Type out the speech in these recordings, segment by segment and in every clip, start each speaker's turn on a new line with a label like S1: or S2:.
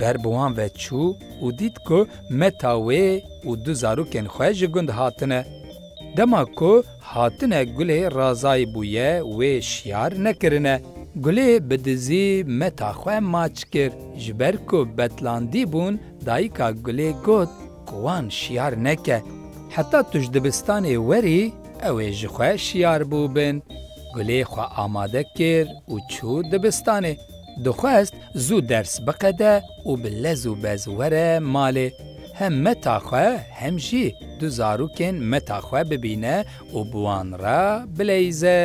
S1: Ber bi wan ve çû û dît ku meta wê û du zarokên xwe ji gund hatine. Dema ku hatine Gulê Razayî bûye wê şiyar nekirine. Gulê bi dizî meta xwe maç kir. Ji ber ku betlandî bûn dayika Gulê got ku wan şiyar neke. Heta tu ji dibistanê werî ew ê ji xwe şiyar bûbin. Gulê xwe amade kir û çû dibistanê. Dixwest zû ders biqede û bi lez û bez were malê. Hem meta xwe hem jî du zarokên meta xwe bibîne û bi wan re bileyze.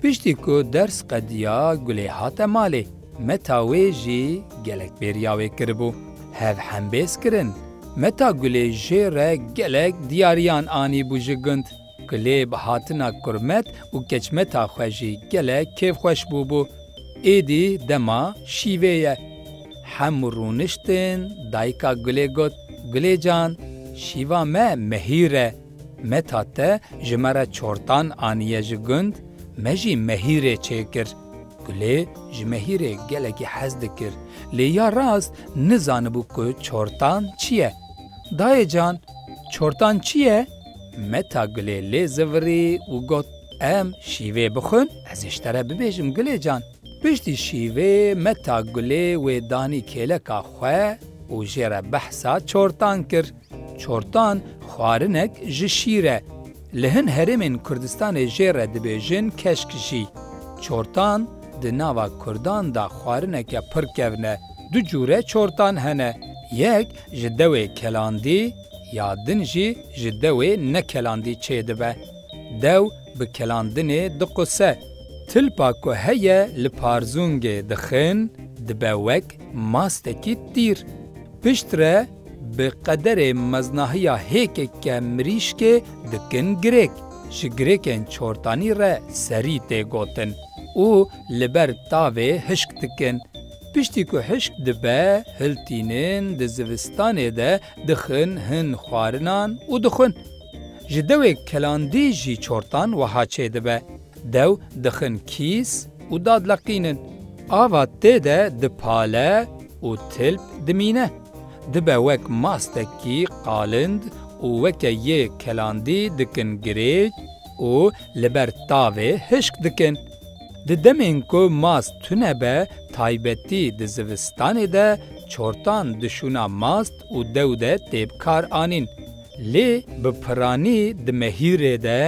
S1: Piştî ku ders qediya Gulê hate malê. Meta wê jî gelek bêriya wê kiribû. Hev hembêz kirin. Meta Gulê jê re gelek diyariyan anîbû ji gund. Klêb hatina Kurmet û Keçmeta xwe jî gelek kêfxweş bûbû. Êdî dema şîvê ye. Hemû rûniştin, dayika Gulê got, Gulê can, şîva me Mehîr e. Meta te ji me re çortan aniye ji gund, me jî Mehîrê çêkir. Gulê ji Mehîrê gelekî hez dikir, lê ya rast nizanibû ku çortan çi ye. Dayê can, çortan çi ye? Meta Gulê lê zivirî û got, Em şîvê bixwin, ez ê ji te re bibêjim Gulê can. Piştî şîvê Meta Gulê wê danî kêleka xwe û jê re behsa çortan kir. Çortan xwarinek ji şîr e. Li hin herêmên Kurdistanê jê re dibêjin keşk jî. Çortan di nava Kurdan de xwarineke pir kevn e. Du cûre çortan hene. Yek ji dewê kelandî. Ya din jî ji dewê ne kelandî çê dibe. Dew bi kelandinê diquse. Tilpa ku heye li parzûngê dixin dibe wek mastekî tîr. Piştre bi qederê meznahiya hêkeke mirîşkê dikin girêk. Ji girêkên çortanî re serî tê gotin û li ber tavê hişk dikin. Piştî ku hişk dibe, hiltînin di zivistanê de Dixin hin xwarinan û dixwin. Ji dewê kelandî jî çortan weha çê dibe, dew dixin kîs û dadleqînin. Ava tê de dipale û tilp dimîne. Dibe wek mastekî qalind û weke yê kelandî dikin girêj û li ber tavê hişk dikin. Di demên ku mast tune be taybetî di zivistanê de çortan dişûna mast û dew de tê bi kar anîn. Lê bi piranî di mehîrê de,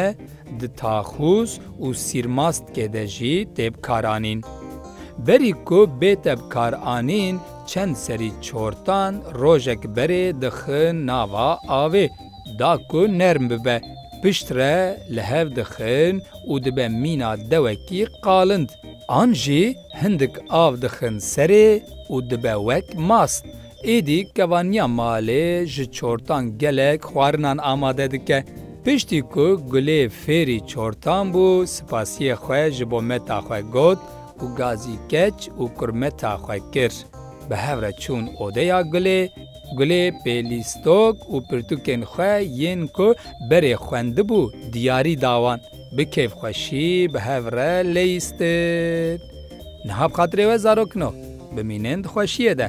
S1: di taxûs û sîrmastkê de jî tê bi kar anîn. Berî ku bête bi kar anîn çend serî çortan rojek berê dixin nava avê. Da ku nerm bibe, pişt re li hev dixin û dibe mîna dewekî qalind. An jî hindik av dixin serê û dibe wek mast. Êdî kevaniya malê ji çortan gelek xwarinan amade dike. Piştî ku Gulê fêrî çortan bû spasiyê xwe ji bo meta xwe got û gazî keç û kurmeta xwe kir. Bi hev re çûn odeya Gulê. Gulê pêlîstok û pirtûkên xwe yên ku berê xwendibû diyarî da wan. Bi kêfxweşî bi hev re lêîstin. Niha bi xatirê we zarok in o. Bimînin di xweşiyê de.